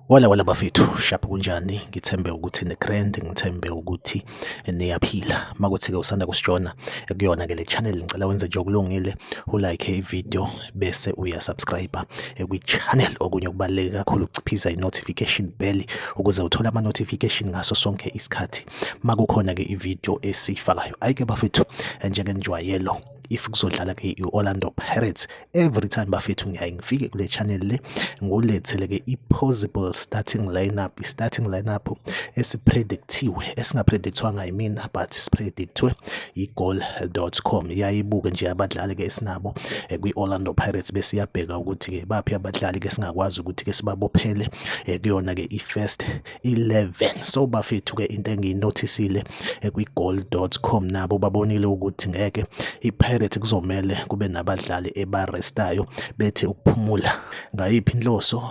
Wala wala bafethu shapha kunjani ngithembe ukuthi ne grand ngithembe ukuthi niyaphila makuthi ke usanda kusijona kuyona ke le channel ngicela wenze nje okulungile u like i video bese uya subscribe kwi channel okunye okubaleke kakhulu ukuchiphiza i notification bell ukuze uthole ama notification ngaso sonke isikhathi makukhona ke ivideo esiyifakayo ayike bafethu njengenjwayelo if kuzodlala ke i-Orlando Pirates every time bafethu ngiyaye ngifike kule channel le ngulethele ke i-possible starting lineup i-starting lineup esipredictiwe esingapredictwanga yimina but sipredictwe yi-goal.com yayibuke nje abadlali ke esinabo eh, kwi-Orlando Pirates besiyabheka ukuthi ke baphi abadlali ke singakwazi ukuthi ke sibabophele eh, kuyona ke i-first 11 so bafethu ke into engiyinothisile eh, kwigoal.com nabo babonile ukuthi ngeke iPirates kuzomele kube nabadlali ebarestayo bethi ukuphumula ngayiphi inhloso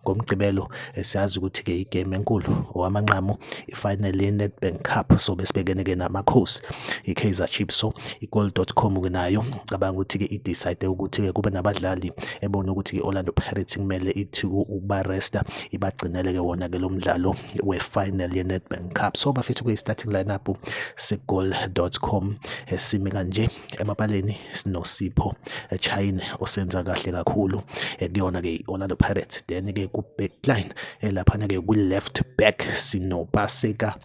ngomgqibelo eh, siyazi ukuthi ke igame enkulu owamanqamu ifinal yeNedbank Cup so besibekene ke namakhosi iKaizer Chiefs so igoal.com ke nayo cabanga ukuthi ke idecide ukuthi ke kube nabadlali ebona ukuthi ke Orlando Pirates kumele ithi ubaresta ibagcinele-ke wona-ke lo mdlalo we-final ye-nedbank cup so bafethu kuyi-starting lineup segoal dot com eh, simi kanje emapaleni sinosipho eh, chine osenza kahle kakhulu eh, kuyona-ke i-orlando pirates then-ke ku-backline laphana-ke kwi-left back sinopaseka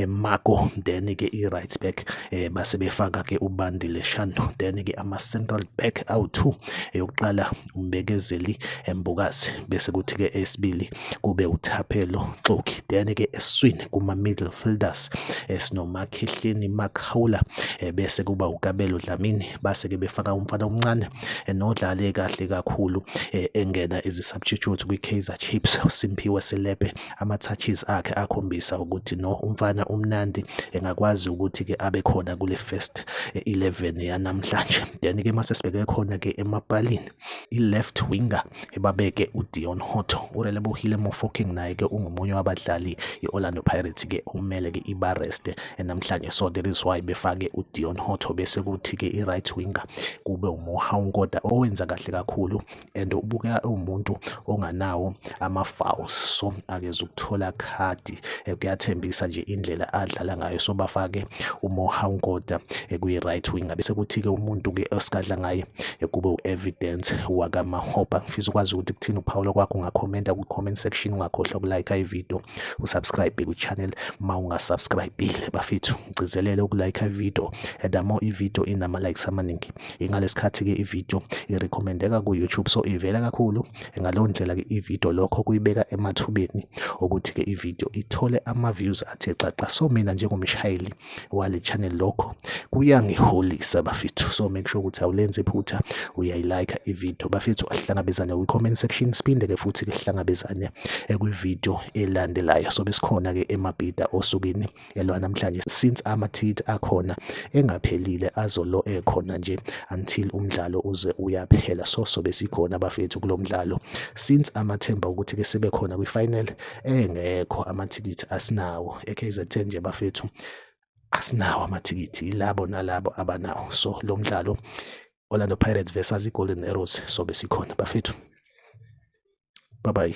marco then-ke i-right back base befaka-ke ubandile shando then-ke ama-central back awu-two yokuqala uMbekezeli Mbokazi bese kuthi-ke esibili kube uThaphelo Xoki then-ke eswini kuma-middle fielders esinomakhehleni Makhawula eh, bese kuba uKabelo Dlamini base-ke befaka umfana omncane eh, nodlale kahle kakhulu eh, engena ezi-substitute kwi-Kaizer Chiefs uSimphiwe Selepe ama-touches akhe akhombisa ukuthi no umfana umnandi engakwazi ukuthi ke abe khona kule first 11 yanamhlanje then ke mase sibheke khona ke emapalini i-left winger ebabeke uDion Hotto urelebohile Mofokeng naye ke ungomunye wabadlali i-Orlando Pirates ke okumele ke ibareste namhlanje so there is why befake uDion Hotto bese kuthi ke i-right winger kube uMohaunkoda owenza kahle kakhulu and ubukeka uwumuntu onganawo ama-fouls so akeze ukuthola khadi eh, kuyathembisa nje indlela adlala ngayo so bafake umoha unkoda eh, kuyi-right wing bese kuthi-ke umuntu-ke esikadla ngaye eh, kube u-evidence wakamahopa ngifisa ukwazi ukuthi kuthini uphawulo kwakho ungakhomenta kwi-comment section ungakhohlwa ukulike ividiyo usubscribe kwi-channel ma ungasubscribile bafethu ngigcizelele ukulike ividiyo and the more ividiyo inama-likes amaningi ingalesikhathi ke ivideo irecommendeka ku YouTube so ivela kakhulu ngaleyo ndlela ke ivideo lokho kuyibeka emathubeni ukuthi ke ivideo ithole ama views athe xaxa so mina njengomshayeli wale channel lokho kuyangiholisa bafethu so make sure ukuthi awulenze iphutha uyayilike ivideo bafethu asihlangabezane kwi comment section siphinde ke futhi ke sihlangabezane kwi video elandelayo so besikhona ke emabhida osukwini yalo namhlanje since amathikithi akhona engaphelile azolo ekhona nje until umdlalo uze uyaphela so sobe sikhona bafethu kulo mdlalo since amathemba ukuthi ke sebe khona kwi final engekho amathikithi asinawo eKZN nje bafethu asinawo amathikithi yilabo nalabo abanawo so lo mdlalo Orlando Pirates versus iGolden Arrows sobe sikhona bafethu bye bye